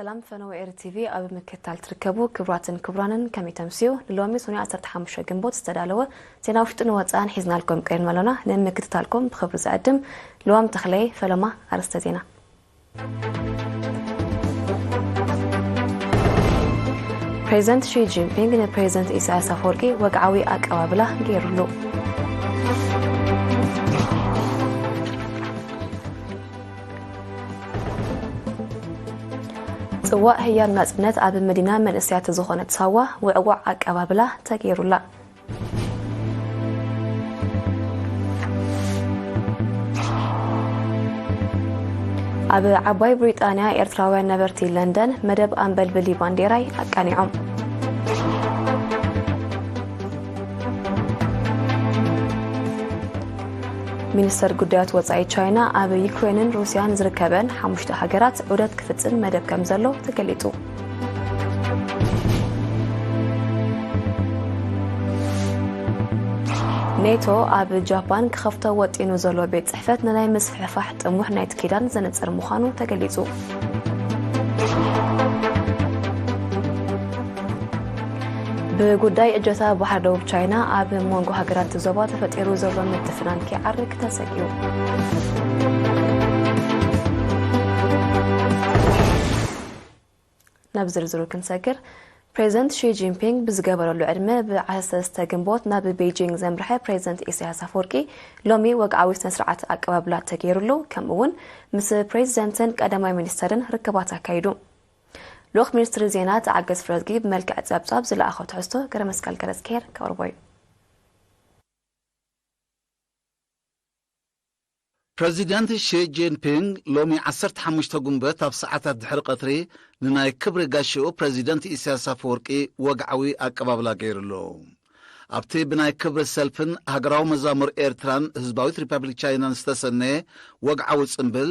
ሰላም ፈነወ ኤሪ ቲቪ ኣብ ምክታል ትርከቡ ክብራትን ክብራንን ከመይ ተምስዩ ንሎሚ ሶኒ 15 ግንቦት ዝተዳለወ ዜና ውሽጢ ንወፃእን ሒዝናልኩም ቀሪብና ኣሎና ንምክትታልኩም ብክብሪ ዝዕድም ልዋም ተኽለየ ፈለማ ኣርስተ ዜና ፕሬዚደንት ሺ ጂንፒንግ ንፕሬዚደንት ኢሳያስ ኣፈወርቂ ወግዓዊ ኣቀባብላ ገይሩሉ ፅዋእ ህያብ ናፅነት ኣብ መዲና መንእስያት ዝኾነት ሳዋ ውዕዋዕ ኣቀባብላ ተገይሩላ ኣብ ዓባይ ብሪጣንያ ኤርትራውያን ነበርቲ ለንደን መደብ ኣንበልብሊ ባንዴራይ ኣቃኒዖም ሚኒስተር ጉዳያት ወፃኢ ቻይና ኣብ ዩክሬንን ሩስያን ዝርከበን ሓሙሽተ ሃገራት ዑደት ክፍፅም መደብ ከም ዘሎ ተገሊፁ ኔቶ ኣብ ጃፓን ክኸፍቶ ወጢኑ ዘሎ ቤት ፅሕፈት ንናይ ምስፍሕፋሕ ጥሙሕ ናይቲ ኪዳን ዘነፅር ምዃኑ ተገሊፁ ብጉዳይ እጀታ ባሕሪ ደቡብ ቻይና ኣብ መንጎ ሃገራት ዞባ ተፈጢሩ ዘሎ ምትፍናን ክዓርግ ተሰጊኡ ናብ ዝርዝሩ ክንሰግር ፕሬዚደንት ሺ ጂንፒንግ ብዝገበረሉ ዕድመ ብ13 ግንቦት ናብ ቤጂንግ ዘምርሐ ፕሬዚደንት ኢሳያስ ኣፈወርቂ ሎሚ ወግዓዊ ስነ ስርዓት ኣቀባብላ ተገይሩሉ ከምኡ እውን ምስ ፕሬዚደንትን ቀዳማይ ሚኒስተርን ርክባት ኣካይዱ ልኡኽ ሚኒስትሪ ዜና ተዓገስ ፍረዝጊ ብመልክዕ ጸብጻብ ዝለኣኸ ትሕዝቶ ገረ መስቀል ገረዝኬር ከቕርቦ እዩ ፕረዚደንት ሺ ጂንፒንግ ሎሚ ዓሰርተ ሓሙሽተ ጉንበት ኣብ ሰዓታት ድሕሪ ቀትሪ ንናይ ክብሪ ጋሻኡ ፕረዚደንት ኢሳያስ ኣፈወርቂ ወግዓዊ ኣቀባብላ ገይሩሉ። ኣብቲ ብናይ ክብሪ ሰልፍን ሃገራዊ መዛሙር ኤርትራን ህዝባዊት ሪፓብሊክ ቻይናን ዝተሰነየ ወግዓዊ ጽምብል፣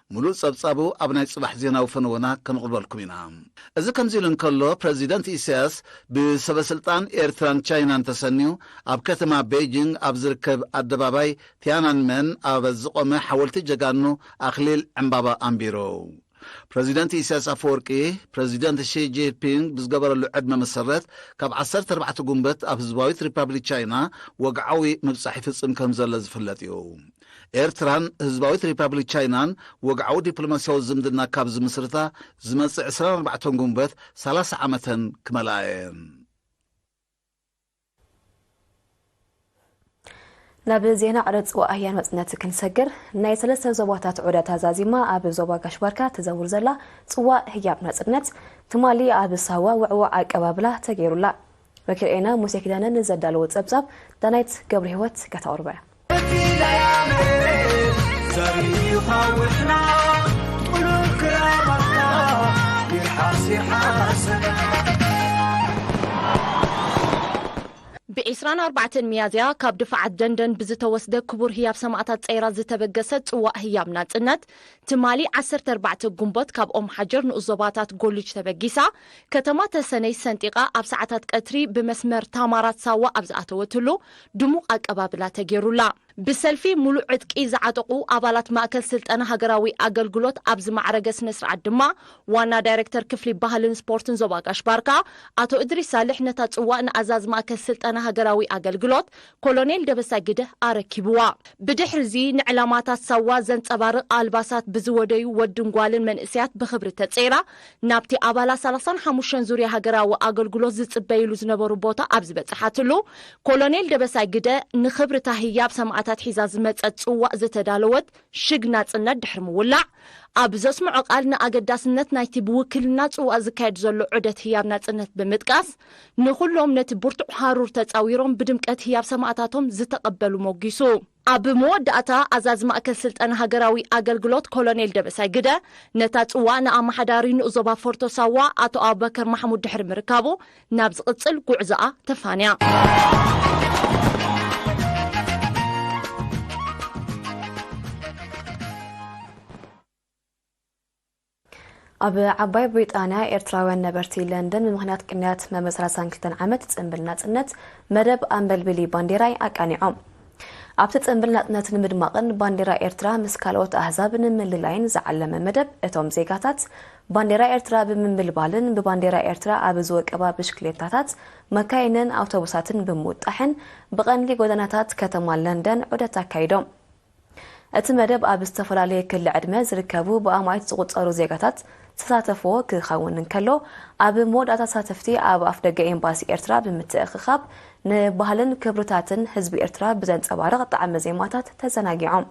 ምሉእ ጸብጻቡ ኣብ ናይ ጽባሕ ዜናዊ ፈነወና ከነቕርበልኩም ኢና። እዚ ከምዚ ኢሉ እንከሎ፣ ፕረዚደንት ኢሳያስ ብሰበስልጣን ኤርትራን ቻይናን ተሰንዩ ኣብ ከተማ በይጂንግ ኣብ ዝርከብ ኣደባባይ ትያናንመን ኣብ ዝቖመ ሓወልቲ ጀጋኑ ኣኽሊል ዕምባባ ኣንቢሩ። ፕረዚደንት ኢሳያስ ኣፈወርቂ፣ ፕረዚደንት ሺ ጂንፒንግ ብዝገበረሉ ዕድመ መሰረት ካብ ዓሰርተ ኣርባዕተ ጉንበት ኣብ ህዝባዊት ሪፓብሊክ ቻይና ወግዓዊ ምብጻሕ ይፍጽም ከምዘሎ ዝፍለጥ እዩ። ኤርትራን ህዝባዊት ሪፓብሊክ ቻይናን ወግዓዊ ዲፕሎማስያዊ ዝምድና ካብ ዝምስርታ ዝመጽእ ዕስራን ኣርባዕተን ግንቦት ሰላሳ ዓመተን ክመልኣ እየን። ናብ ዜና ዕረጽ ኣህያን መጽነት ክንሰግር ናይ ሰለስተ ዞባታት ዑደታ ዛዚማ ኣብ ዞባ ጋሽባርካ ትዘውር ዘላ ጽዋእ ህያብ ናጽነት ትማሊ ኣብ ሳዋ ውዕዋዕ ኣቀባብላ ተገይሩላ መኪርኤና ሙሴ ኪዳነ ንዘዳለዎ ጸብጻብ ዳናይት ገብርሂወት ከተቕርቦ እያ። ብ ዕስራን ኣርባዕተን ሚያዝያ ካብ ድፋዓት ደንደን ብዝተወስደ ክቡር ህያብ ሰማእታት ጸይራ ዝተበገሰት ጽዋእ ህያብ ናጽነት ትማሊ ዓሰርተ ኣርባዕተ ጉንቦት ካብ ኦምሓጀር ንኡስ ዞባታት ጎልጅ ተበጊሳ ከተማ ተሰነይ ሰንጢቓ ኣብ ሰዓታት ቀትሪ ብመስመር ታማራት ሳዋ ኣብ ዝኣተወትሉ ድሙቕ ኣቀባብላ ተገይሩላ። ብሰልፊ ሙሉእ ዕጥቂ ዝዓጠቑ ኣባላት ማእከል ስልጠና ሃገራዊ ኣገልግሎት ኣብ ዝማዕረገ ስነ-ስርዓት ድማ ዋና ዳይረክተር ክፍሊ ባህልን ስፖርትን ዞባ ጋሽ ባርካ ኣቶ እድሪስ ሳልሕ ነታ ጽዋእ ንኣዛዚ ማእከል ስልጠና ሃገራዊ ኣገልግሎት ኮሎኔል ደበሳይ ግደህ ኣረኪቡዋ። ብድሕሪ'ዚ ንዕላማታት ሳዋ ዘንጸባርቕ ኣልባሳት ብዝወደዩ ወድን ጓልን መንእሰያት ብኽብሪ ተጸይራ ናብቲ ኣባላት ሰላሳን ሓሙሽተን ዙርያ ሃገራዊ ኣገልግሎት ዝጽበዩሉ ዝነበሩ ቦታ ኣብ ዝበጽሓትሉ፣ ኮሎኔል ደበሳይ ግደ ንኽብር'ታ ህያብ ሰማእታት ሒዛ ዝመጸት ጽዋእ ዝተዳለወት ሽግ ናጽነት ድሕሪ ምውላዕ፣ ኣብ ዘስምዖ ቃል ንኣገዳስነት ናይቲ ብውክልና ጽዋእ ዝካየድ ዘሎ ዑደት ህያብ ናጽነት ብምጥቃስ፣ ንኹሎም ነቲ ብርቱዕ ሃሩር ተጻዊሮም ብድምቀት ህያብ ሰማእታቶም ዝተቐበሉ ሞጒሱ። ኣብ መወዳእታ ኣዛዚ ማእከል ስልጠና ሃገራዊ ኣገልግሎት ኮሎኔል ደበሳይ ግደ፣ ነታ ጽዋእ ንኣመሓዳሪ ንኡስ ዞባ ፎርቶ ሳዋ ኣቶ ኣቡበከር ማሕሙድ ድሕሪ ምርካቡ፣ ናብ ዝቕጽል ጉዕዞኣ ተፋንያ። ኣብ ዓባይ ብሪጣንያ ኤርትራውያን ነበርቲ ለንደን ብምኽንያት ቅንያት መበል 32 ዓመት ጽንብል ናጽነት መደብ ኣንበልብሊ ባንዴራይ ኣቃኒዖም። ኣብቲ ጽንብል ናጽነት ንምድማቕን ባንዴራ ኤርትራ ምስ ካልኦት ኣህዛብ ንምልላይን ዝዓለመ መደብ እቶም ዜጋታት ባንዴራ ኤርትራ ብምንብልባልን ብባንዴራ ኤርትራ ኣብ ዝወቀባ ብሽክሌታታት፣ መካይንን ኣውቶቡሳትን ብምውጣሕን ብቐንዲ ጎደናታት ከተማ ለንደን ዑደት ኣካይዶም። እቲ መደብ ኣብ ዝተፈላለየ ክሊ ዕድመ ዝርከቡ ብኣማኢት ዝቑጸሩ ዜጋታት ዝተሳተፍዎ ክኸውን እንከሎ፣ ኣብ መወዳእታ ተሳተፍቲ ኣብ ኣፍደገ ኤምባሲ ኤርትራ ብምትእኽኻብ ንባህልን ክብርታትን ህዝቢ ኤርትራ ብዘንጸባርቕ ጣዕመ ዜማታት ተዘናጊዖም።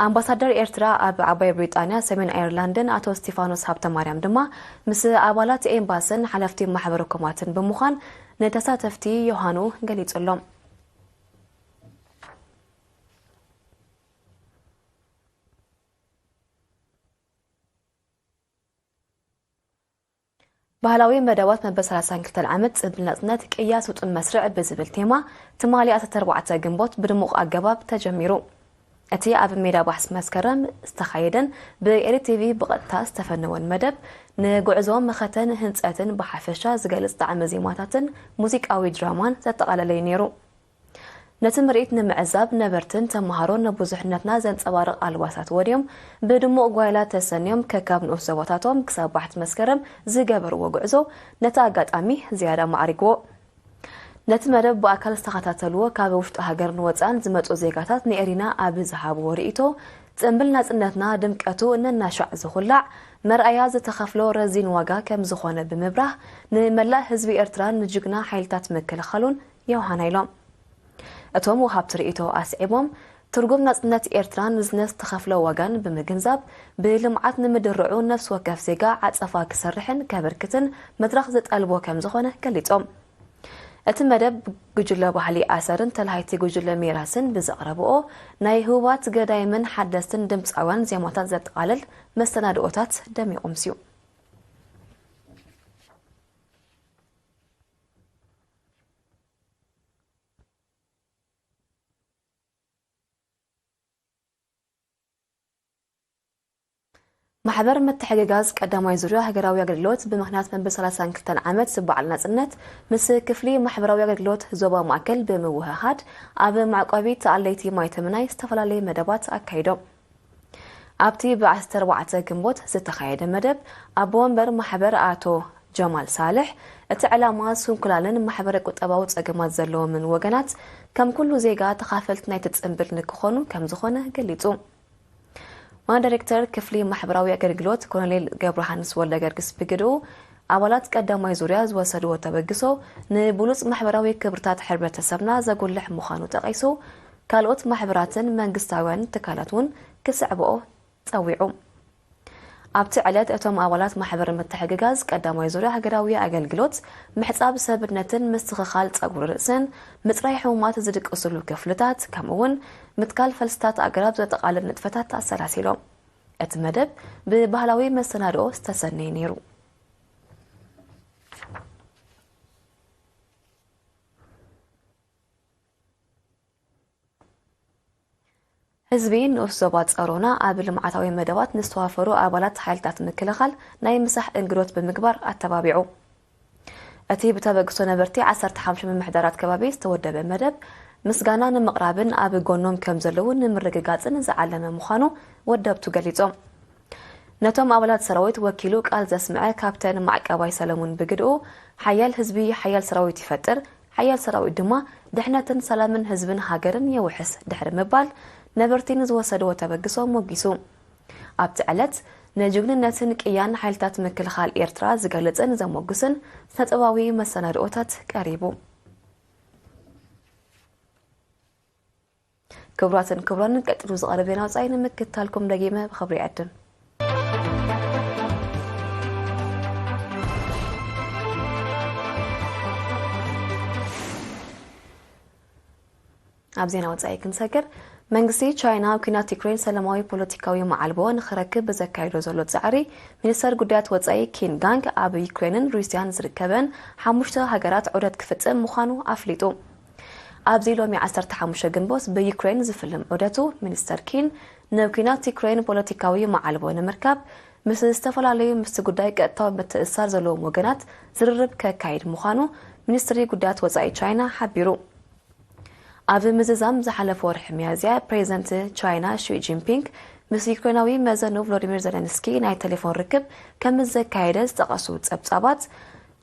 ኣምባሳደር ኤርትራ ኣብ ዓባይ ብሪጣንያ፣ ሰሜን ኣየርላንድን ኣቶ እስቲፋኖስ ሃብተማርያም ድማ ምስ ኣባላት ኤምባስን ሓለፍቲ ማሕበረ ኮማትን ብምዃን ንተሳተፍቲ ዮሃኑ ገሊጹሎም። ባህላዊ መደባት መበል 32 ዓመት ጽምብል ናጽነት ቅያ ስጡም መስርዕ ብዝብል ቴማ ትማሊ 14 ግንቦት ብድሙቕ ኣገባብ ተጀሚሩ እቲ ኣብ ሜዳ ባሕስ መስከረም ዝተኻየደን ብኤሪ ቲቪ ብቐጥታ ዝተፈነወን መደብ ንጉዕዞ መኸተን ህንፀትን ብሓፈሻ ዝገልፅ ጣዕሚ ዜማታትን ሙዚቃዊ ድራማን ዘጠቓለለዩ ነይሩ ነቲ ምርኢት ንምዕዛብ ነበርትን ተመሃሮን ንብዙሕነትና ዘንጸባርቕ ኣልባሳት ወንዮም ብድሙቕ ጓይላ ተሰንዮም ከካብ ንኡስ ዞባታቶም ክሳብ ባሕቲ መስከረም ዝገበርዎ ጉዕዞ ነቲ ኣጋጣሚ ዝያዳ ኣማዕሪግዎ። ነቲ መደብ ብኣካል ዝተኸታተልዎ ካብ ውሽጢ ሃገርን ወጻእን ዝመጹ ዜጋታት ንኤሪና ኣብ ዝሃብዎ ርእይቶ ጽንብል ናጽነትና ድምቀቱ ነናሻዕ ዝኹላዕ መርኣያ ዝተኸፍሎ ረዚን ዋጋ ከምዝኾነ ብምብራህ ንመላእ ህዝቢ ኤርትራን ንጅግና ሓይልታት ምክልኻሉን ዮውሃና ኢሎም። እቶም ወሃብቲ ርእይቶ ኣስዒቦም፣ ትርጉም ናጽነት ኤርትራ ንዝነ ዝተኸፍሎ ዋጋን ብምግንዛብ፣ ብልምዓት ንምድርዑ ነፍሲ ወከፍ ዜጋ ዓጸፋ ክሰርሕን ከበርክትን መድረኽ ዘጠልቦ ከምዝኾነ ገሊጾም። እቲ መደብ ጉጅለ ባህሊ ኣሰርን ተላሃይቲ ጉጅለ ሚራስን ብዘቕረብኦ ናይ ህቡባት ገዳይምን ሓደስትን ድምጻውያን ዜማታት ዘጠቓልል መሰናድኦታት ደሚቑ ምስዩ። ማሕበር ምትሕግጋዝ ቀዳማይ ዙርያ ሃገራዊ ኣገልግሎት ብምኽንያት መበል 32 ዓመት ዝበዓል ናጽነት ምስ ክፍሊ ማሕበራዊ ኣገልግሎት ዞባ ማእከል ብምውህሃድ ኣብ መዕቆቢ ተኣለይቲ ማይተምናይ ዝተፈላለየ መደባት ኣካይዶም። ኣብቲ ብ ዓሰርተ ኣርባዕተ ግንቦት ዝተኻየደ መደብ፣ ኣቦ ወንበር ማሕበር ኣቶ ጀማል ሳልሕ፣ እቲ ዕላማ ስንኩላንን ማሕበረ ቁጠባዊ ጸገማት ዘለዎምን ወገናት ከም ኩሉ ዜጋ ተኻፈልቲ ናይቲ ጽንብል ንክኾኑ ከምዝኾነ ገሊጹ። ዋና ዳይሬክተር ክፍሊ ማሕበራዊ ኣገልግሎት ኮሎኔል ገብረሃንስ ወልደገርግስ ብግድኡ፣ ኣባላት ቀዳማይ ዙርያ ዝወሰድዎ ተበግሶ ንብሉጽ ማሕበራዊ ክብርታት ሕብረተሰብና ዘጉልሕ ምዃኑ ጠቒሱ፣ ካልኦት ማሕበራትን መንግስታውያን ትካላት እውን ክስዕብኦ ጸዊዑ። ኣብቲ ዕለት እቶም ኣባላት ማሕበር ምትሕግጋዝ ቀዳማይ ዙርያ ሃገራዊ ኣገልግሎት ምሕጻብ ሰብነትን ምስትኽኻል ጸጉሪ ርእስን፣ ምጽራይ ሕሙማት ዝድቅስሉ ክፍልታት፣ ከምኡ'ውን ምትካል ፈልስታት ኣግራብ ዘጠቓልል ንጥፈታት ኣሰላሲሎም። እቲ መደብ ብባህላዊ መሰናድኦ ዝተሰነየ ነይሩ። ህዝቢ ንኡስ ዞባ ጸሮና ኣብ ልምዓታዊ መደባት ንዝተዋፈሩ ኣባላት ሓይልታት ምክልኻል ናይ ምሳሕ እንግዶት ብምግባር ኣተባቢዑ። እቲ ብተበግሶ ነበርቲ ዓሰርተ ሓሙሽተ ምምሕዳራት ከባቢ ዝተወደበ መደብ ምስጋና ንምቕራብን ኣብ ጎኖም ከም ዘለዉ ንምርግጋጽን ዝዓለመ ምዃኑ ወደብቱ ገሊጾም። ነቶም ኣባላት ሰራዊት ወኪሉ ቃል ዘስምዐ ካፕተን ማዕቀባይ ሰለሙን ብግድኡ ሓያል ህዝቢ ሓያል ሰራዊት ይፈጥር፣ ሓያል ሰራዊት ድማ ድሕነትን ሰላምን ህዝብን ሃገርን የውሕስ ድሕሪ ምባል ነበርቲ ንዝወሰድዎ ተበግሶ ሞጊሱ። ኣብቲ ዕለት ንጅግንነትን ቅያን ሓይልታት ምክልኻል ኤርትራ ዝገልጽን ዘሞግስን ስነጥበባዊ መሰናድኦታት ቀሪቡ። ክብራትን ክብራንን ቀጢሉ ዝቐርብ ዜና ወፃኢ ንምክትታልኩም ደጊመ ብኽብሪ ይዕድም። ኣብ ዜና ወፃኢ ክንሰግር መንግስቲ ቻይና ኣብ ኩናት ዩክሬን ሰላማዊ ፖለቲካዊ መዓልቦ ንክረክብ ብዘካይዶ ዘሎ ፃዕሪ ሚኒስተር ጉዳያት ወፃኢ ኪን ጋንግ ኣብ ዩክሬንን ሩስያን ዝርከበን ሓሙሽተ ሃገራት ዑደት ክፍፅም ምዃኑ ኣፍሊጡ ኣብዚ ሎሚ ዓሰርተ ሓሙሽተ ግንቦት ብዩክሬን ዝፍልም ዑደቱ፣ ሚኒስተር ኪን ናብ ኲናት ዩክሬን ፖለቲካዊ መዓልቦ ንምርካብ ምስ ዝተፈላለዩ ምስቲ ጉዳይ ቀጥታዊ ምትእስሳር ዘለዎም ወገናት ዝርርብ ከካይድ ምዃኑ ሚኒስትሪ ጉዳያት ወጻኢ ቻይና ሓቢሩ። ኣብዚ ምዝዛም ዝሓለፈ ወርሒ ሚያዝያ ፕሬዚደንት ቻይና ሺ ጂንፒንግ ምስ ዩክሬናዊ መዘኑ ቭሎዲሚር ዘለንስኪ ናይ ቴሌፎን ርክብ ከም ዘካየደ ዝጠቐሱ ጸብጻባት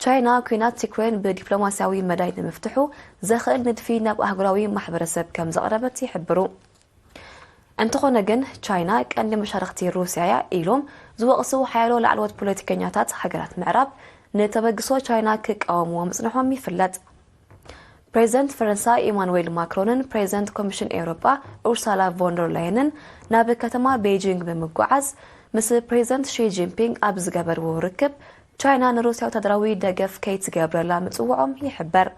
ቻይና ኲናት ዩክሬን ብዲፕሎማስያዊ መዳይ ንምፍትሑ ዘኽእል ንድፊ ናብ ኣህጉራዊ ማሕበረሰብ ከም ዘቕረበት ይሕብሩ። እንተኾነ ግን ቻይና ቀንዲ መሻርኽቲ ሩስያ'ያ ኢሎም ዝወቕሱ ሓያሎ ላዕለዎት ፖለቲከኛታት ሃገራት ምዕራብ ንተበግሶ ቻይና ክቃወምዎ ምጽንሖም ይፍለጥ። ፕሬዚደንት ፈረንሳ ኢማኑዌል ማክሮንን ፕሬዚደንት ኮሚሽን ኤውሮጳ ኡርሳላ ቮንደር ላየንን ናብ ከተማ ቤጂንግ ብምጓዓዝ ምስ ፕሬዚደንት ሺ ጂንፒንግ ኣብ ዝገበርዎ ርክብ ቻይና ንሩስያ ወታደራዊ ደገፍ ከይትገብረላ ምጽውዖም ይሕበር።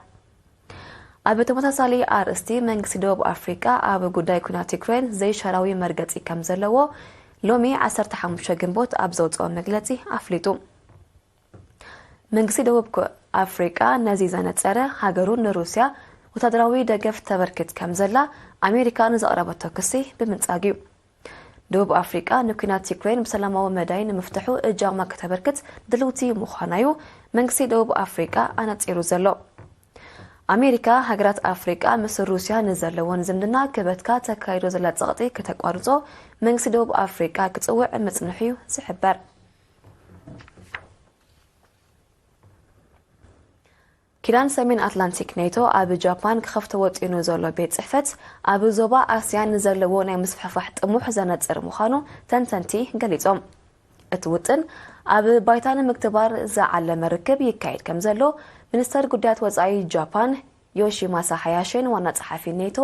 ኣብ ተመሳሳሊ ኣርእስቲ መንግስቲ ደቡብ ኣፍሪቃ ኣብ ጉዳይ ኩናት ዩክሬን ዘይሻራዊ መርገጺ ከም ዘለዎ ሎሚ 15 ግንቦት ኣብ ዘውጽኦ መግለጺ ኣፍሊጡ። መንግስቲ ደቡብ ኣፍሪቃ ነዚ ዘነጸረ፣ ሃገሩ ንሩስያ ወተሃደራዊ ደገፍ ተበርክት ከም ዘላ ኣሜሪካ ንዘቕረበቶ ክሲ ብምንጻግ እዩ። ደቡብ ኣፍሪቃ ንኲናት ዩክሬን ብሰላማዊ መዳይ ንምፍትሑ እጃማ ከተበርክት ድልውቲ ምዃና እዩ መንግስቲ ደቡብ ኣፍሪቃ ኣነጺሩ ዘሎ። ኣሜሪካ ሃገራት ኣፍሪቃ ምስ ሩስያ ንዘለወን ዝምድና ክበትካ ተካይዶ ዘላ ጸቕጢ ከተቋርጾ መንግስቲ ደቡብ ኣፍሪቃ ክጽውዕ ምጽንሑ እዩ ዝሕበር። ኪዳን ሰሜን ኣትላንቲክ ኔቶ ኣብ ጃፓን ክኸፍቶ ወጢኑ ዘሎ ቤት ጽሕፈት ኣብ ዞባ ኣስያን ንዘለዎ ናይ ምስፍሕፋሕ ጥሙሕ ዘነጽር ምዃኑ ተንተንቲ ገሊጾም እቲ ውጥን ኣብ ባይታ ንምግትባር ዝዓለመ ርክብ ይካየድ ከም ዘሎ ሚኒስተር ጉዳያት ወፃኢ ጃፓን ዮሺማሳ ሓያሽን ዋና ጸሓፊ ኔቶ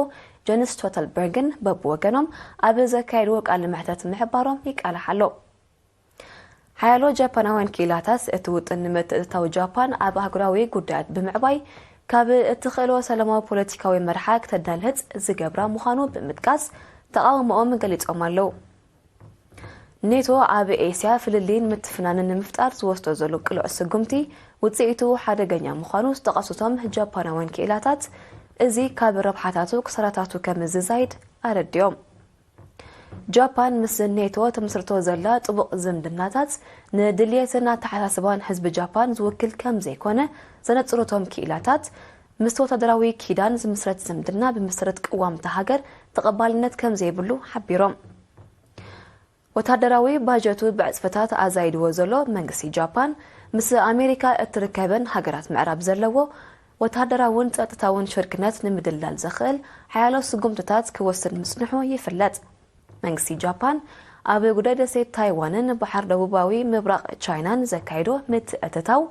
ጀንስ ስቶተልበርግን በብወገኖም ኣብ ዘካየድዎ ቃለ መሕተት ምሕባሮም ይቃላሕ ኣሎ ሓያሎ ጃፓናውያን ክኢላታት፣ እቲ ውጥን ንምትእትታው ጃፓን ኣብ ኣህጉራዊ ጉዳያት ብምዕባይ ካብ እትኽእሎ ሰላማዊ ፖለቲካዊ መርሓ ክተዳልህጽ ዝገብራ ምዃኑ ብምጥቃስ ተቓውሞኦም ገሊጾም ኣለዉ። ኔቶ ኣብ ኤስያ ፍልልይን ምትፍናንን ንምፍጣር ዝወስዶ ዘሎ ቅሉዕ ስጉምቲ ውጽኢቱ ሓደገኛ ምዃኑ ዝጠቐሱቶም ጃፓናውያን ክኢላታት እዚ ካብ ረብሓታቱ ክሳራታቱ ከም ዝዛይድ ኣረዲኦም። ጃፓን ምስ ኔቶ ትምስርቶ ዘላ ጥቡቕ ዝምድናታት ንድልየትን ኣተሓሳስባን ህዝቢ ጃፓን ዝውክል ከም ዘይኮነ ዘነጽሩ እቶም ክኢላታት፣ ምስቲ ወተሃደራዊ ኪዳን ዝምስረት ዝምድና ብመሰረት ቅዋም እታ ሃገር ተቐባልነት ከም ዘይብሉ ሓቢሮም። ወተሃደራዊ ባጀቱ ብዕጽፍታት ኣዛይድዎ ዘሎ መንግስቲ ጃፓን፣ ምስ ኣሜሪካ እትርከበን ሃገራት ምዕራብ ዘለዎ ወተሃደራውን ጸጥታውን ሽርክነት ንምድልዳል ዘኽእል ሓያሎ ስጉምትታት ክወስድ ምጽንሑ ይፍለጥ። መንግስቲ ጃፓን፣ ኣብ ጉዳይ ደሴት ታይዋንን ባሕር ደቡባዊ ምብራቕ ቻይናን ዘካይዶ ምትእትታው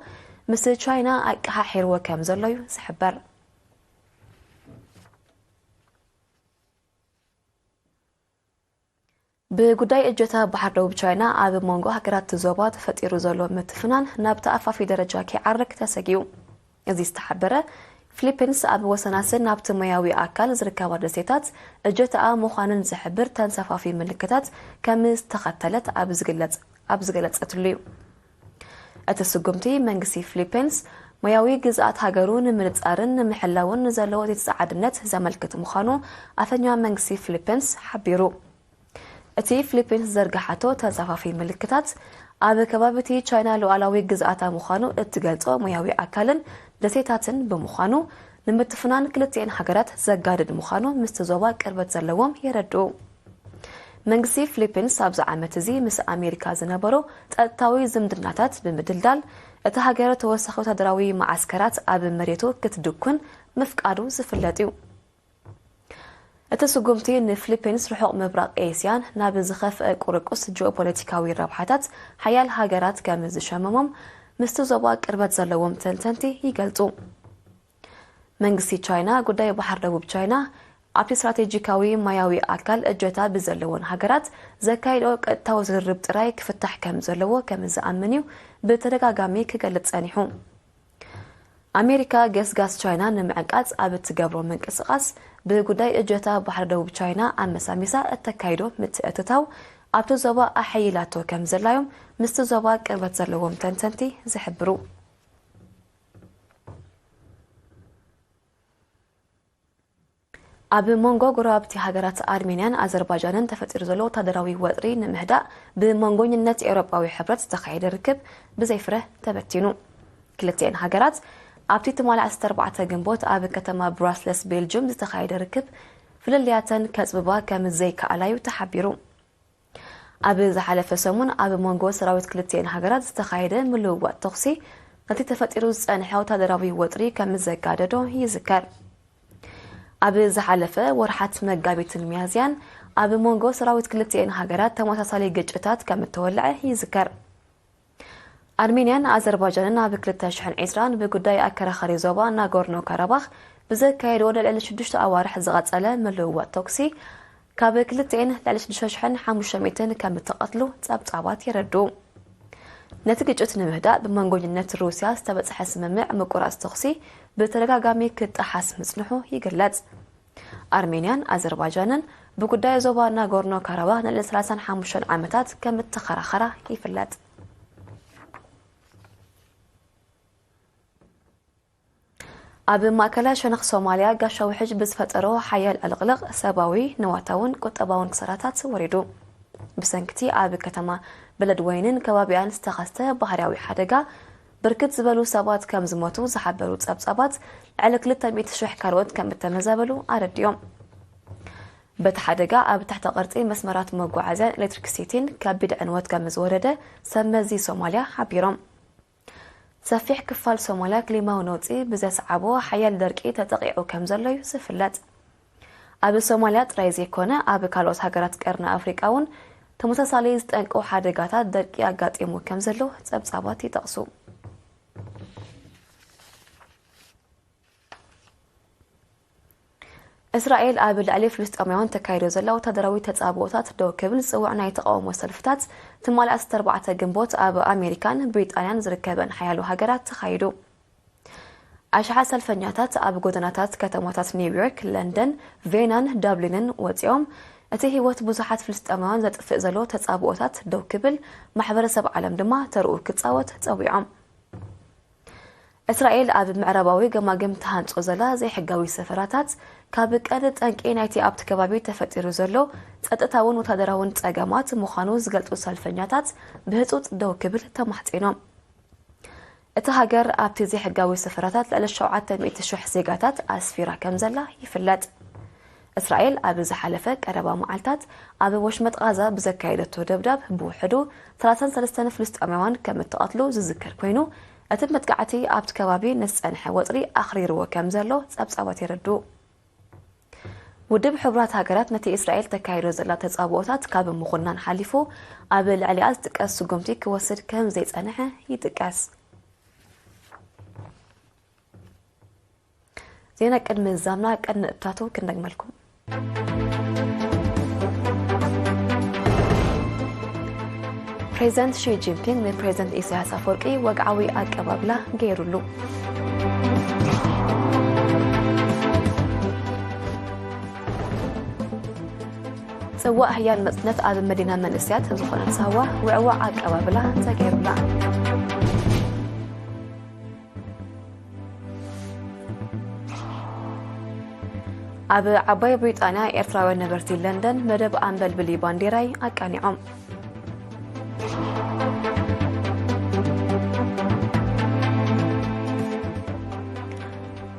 ምስ ቻይና ኣቀሓሒርዎ ከም ዘሎ'ዩ ዝሕበር። ብጉዳይ እጀታ ባሕር ደቡብ ቻይና ኣብ ሞንጎ ሃገራት'ቲ ዞባ ተፈጢሩ ዘሎ ምትፍናን ናብ ተኣፋፊ ደረጃ ከይዓርግ ተሰጊኡ እዚ ዝተሓበረ፣ ፍሊፕንስ ኣብ ወሰናስን ናብቲ ሞያዊ ኣካል ዝርከባ ደሴታት እጀታኣ ምዃነን ዝሕብር ተንሳፋፊ ምልክታት ከምዝተኸተለት ኣብ ዝግለጽ ኣብ ዝገለጸትሉ'ዩ። እቲ ስጉምቲ መንግስቲ ፍሊፒንስ ሞያዊ ግዝኣት ሃገሩ ንምንጻርን ንምሕላውን ንዘለዎ ዘይተጸዓድነት ዘመልክት ምዃኑ ኣፈኛዋ መንግስቲ ፍሊፒንስ ሓቢሩ። እቲ ፍሊፒንስ ዝዘርግሓቶ ተጻፋፊ ምልክታት ኣብ ከባቢ እቲ ቻይና ሉዓላዊ ግዝኣታ ምዃኑ እትገልጾ ሞያዊ ኣካልን ደሴታትን ብምዃኑ ንምትፍናን ክልቲኤን ሃገራት ዘጋድድ ምዃኑ ምስቲ ዞባ ቅርበት ዘለዎም የረድኡ። መንግስቲ ፍሊፒንስ ኣብዚ ዓመት እዚ ምስ ኣሜሪካ ዝነበሮ ጸጥታዊ ዝምድናታት ብምድልዳል እታ ሃገር ተወሳኺ ወታደራዊ መዓስከራት ኣብ መሬቱ ክትድኩን ምፍቃዱ ዝፍለጥ እዩ። እቲ ስጉምቲ ንፍሊፒንስ ርሑቕ ምብራቕ ኤስያን ናብ ዝኸፍአ ቁርቁስ ጂኦፖለቲካዊ ረብሓታት ሓያል ሃገራት ከም ዝሸመሞም ምስቲ ዞባ ቅርበት ዘለዎም ተንተንቲ ይገልጹ። መንግስቲ ቻይና ጉዳይ ባሕር ደቡብ ቻይና ኣብቲ ስትራቴጂካዊ ማያዊ ኣካል እጀታ ብዘለወን ሃገራት ዘካይድኦ ቀጥታዊ ዝርርብ ጥራይ ክፍታሕ ከም ዘለዎ ከም ዝኣምን እዩ ብተደጋጋሚ ክገልጽ ጸኒሑ። ኣሜሪካ ገስጋስ ቻይና ንምዕንቃጽ ኣብ እትገብሮ ምንቅስቓስ ብጉዳይ እጀታ ባሕሪ ደቡብ ቻይና ኣመሳሚሳ እተካይዶ ምትእትታው ኣብቲ ዞባ ኣሐይላቶ ከም ዘላዮም ምስቲ ዞባ ቅርበት ዘለዎም ተንተንቲ ዝሕብሩ። ኣብ መንጎ ጎረባብቲ ሃገራት ኣርሜንያን ኣዘርባጃንን ተፈጢሩ ዘሎ ወታደራዊ ወጥሪ ንምህዳእ ብመንጎኝነት ኤውሮጳዊ ሕብረት ዝተኻየደ ርክብ ብዘይፍረ ተበቲኑ። ክልቲኤን ሃገራት ኣብቲ ትማሊ ዓሰርተ ኣርባዕተ ግንቦት ኣብ ከተማ ብራስለስ ቤልጁም ዝተኻየደ ርክብ ፍልልያተን ከጽብባ ከም ዘይከኣላ'ዩ ተሓቢሩ። ኣብ ዝሓለፈ ሰሙን ኣብ መንጎ ሰራዊት ክልቲኤን ሃገራት ዝተኻየደ ምልውዋጥ ተኹሲ ነቲ ተፈጢሩ ዝጸንሐ ወታደራዊ ወጥሪ ከም ዘጋደዶ ይዝከር። ኣብ ዝሓለፈ ወርሓት መጋቢትን ሚያዝያን ኣብ መንጎ ሰራዊት ክልቲኤን ሃገራት ተመሳሳሊ ግጭታት ከም እተወልዐ ይዝከር። ኣርሜንያን ኣዘርባጃንን ኣብ ክልተ ሽሕን ዒስራን ብጉዳይ ኣከራኻሪ ዞባ ናጎርኖ ካራባኽ ብዘካየድዎ ንልዕሊ ሽዱሽተ ኣዋርሕ ዝቐጸለ ምልውዋጥ ተኩሲ ካብ ክልቲኤን ልዕሊ ሽዱሽተ ሽሕን ሓሙሽተ ሚእትን ከም እተቐትሉ ጸብጻባት የረድኡ። ነቲ ግጭት ንምህዳእ ብመንጎኝነት ሩስያ ዝተበጽሐ ስምምዕ ምቁራጽ ተኹሲ ብተደጋጋሚ ክጠሓስ ምጽንሑ ይግለጽ። ኣርሜንያን ኣዘርባጃንን ብጉዳይ ዞባ ናጎርኖ ካራባኽ ንልዕሊ ሰላሳን ሓሙሽተን ዓመታት ከም እተኸራኸራ ይፍለጥ። ኣብ ማእከላይ ሸነኽ ሶማልያ ጋሻ ውሕጅ ብዝፈጠሮ ሓያል ዕልቕልቕ ሰብኣዊ ንዋታውን ቁጠባውን ክሰራታት ወሪዱ። ብሰንኪቲ ኣብ ከተማ በለድወይንን ከባቢኣን ዝተኸስተ ባህርያዊ ሓደጋ ብርክት ዝበሉ ሰባት ከም ዝሞቱ ዝሓበሩ ጸብጻባት፣ ልዕሊ ክልተ ሚእቲ ሽሕ ካልኦት ከም እተመዛበሉ ኣረዲኦም። በቲ ሓደጋ ኣብ ትሕተ ቅርጺ መስመራት መጓዓዝያን ኤሌክትሪክሲቲን ከቢድ ዕንወት ከም ዝወረደ ሰብ መዚ ሶማልያ ሓቢሮም። ሰፊሕ ክፋል ሶማልያ ክሊማዊ ነውጺ ብዘስዓቦ ሓያል ደርቂ ተጠቒዑ ከም ዘሎ'ዩ ዝፍለጥ። ኣብ ሶማልያ ጥራይ ዘይኮነ ኣብ ካልኦት ሃገራት ቀርኒ ኣፍሪቃ እውን ተመሳሳሊ ዝጠንቁ ሓደጋታት ደርቂ ኣጋጢሙ ከም ዘሎ ጸብጻባት ይጠቕሱ። እስራኤል ኣብ ልዕሊ ፍልስጤማውያን ተካይዶ ዘላ ወታደራዊ ተጻብኦታት ደው ክብል ዝጽውዕ ናይ ተቃውሞ ሰልፍታት ትማሊ 14 ግንቦት ኣብ ኣሜሪካን ብሪጣንያን ዝርከበን ሓያሎ ሃገራት ተኻይዱ ኣሽሓት ሰልፈኛታት ኣብ ጎደናታት ከተማታት ኒውዮርክ፣ ለንደን፣ ቬናን ዳብሊንን ወጺኦም፣ እቲ ህይወት ብዙሓት ፍልስጤማውያን ዘጥፍእ ዘሎ ተጻብኦታት ደው ክብል፣ ማሕበረሰብ ዓለም ድማ ተርኡ ክጻወት ጸዊዖም። እስራኤል ኣብ ምዕራባዊ ገማግም ትሃንጾ ዘላ ዘይሕጋዊ ሰፈራታት ካብ ቀንዲ ጠንቂ ናይቲ ኣብቲ ከባቢ ተፈጢሩ ዘሎ ጸጥታውን ወታደራውን ጸገማት ምዃኑ ዝገልጹ ሰልፈኛታት ብህጹጽ ደው ክብል ተማሕጺኖም። እታ ሃገር ኣብቲ ዘይሕጋዊ ሰፈራታት ልዕሊ ሸውዓተ ሚእቲ ሽሕ ዜጋታት ኣስፊራ ከምዘላ ይፍለጥ። እስራኤል ኣብ ዝሓለፈ ቀረባ መዓልታት ኣብ ወሽመጥ ቓዛ ብዘካየደቶ ደብዳብ ብውሕዱ ሰላሳን ሰለስተን ፍልስጤማውያን ከም እተቐትሉ ዝዝከር ኰይኑ፣ እቲ መጥቃዕቲ ኣብቲ ከባቢ ንዝጸንሐ ወጥሪ ኣኽሪርዎ ከምዘሎ ጸብጻባት የረድኡ። ውድብ ሕቡራት ሃገራት ነቲ እስራኤል ተካይዶ ዘላ ተጻብኦታት ካብ ምኹናን ሓሊፉ ኣብ ልዕሊኣ ዝጥቀስ ስጉምቲ ክወስድ ከም ዘይጸንሐ ይጥቀስ። ዜና ቅድሚ ዛምና ቀድ ንእታቱ ክንደግመልኩም። ፕሬዚደንት ሺ ጂንፒንግ ንፕሬዚደንት ኢሳያስ ኣፈወርቂ ወግዓዊ ኣቀባብላ ገይሩሉ። ፅዋእ ህያል መፅነት ኣብ መዲና መንእስያት ዝኾነት ሳዋ ውዕዋዕ ኣቀባብላ ተገይሩላ ኣብ ዓባይ ብሪጣንያ ኤርትራውያን ነበርቲ ለንደን መደብ ኣንበልብሊ ባንዴራይ ኣቃኒዖም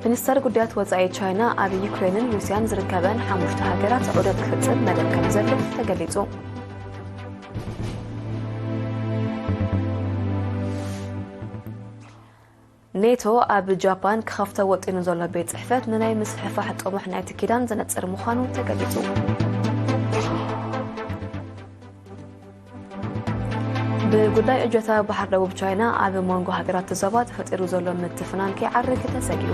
ሚኒስተር ጉዳያት ወፃኢ ቻይና ኣብ ዩክሬንን ሩስያን ዝርከበን ሓሙሽተ ሃገራት ዑደት ክፍፅም መደብ ከም ዘሎ ተገሊፁ ኔቶ ኣብ ጃፓን ክኸፍቶ ወጢኑ ዘሎ ቤት ጽሕፈት ንናይ ምስፍሕፋሕ ጥሙሕ ናይቲ ኪዳን ዘነጽር ምዃኑ ተገሊጹ። ብጉዳይ እጀታ ባሕር ደቡብ ቻይና ኣብ መንጎ ሃገራት ዞባ ተፈጢሩ ዘሎ ምትፍናን ከይዓርግ ተሰጊኡ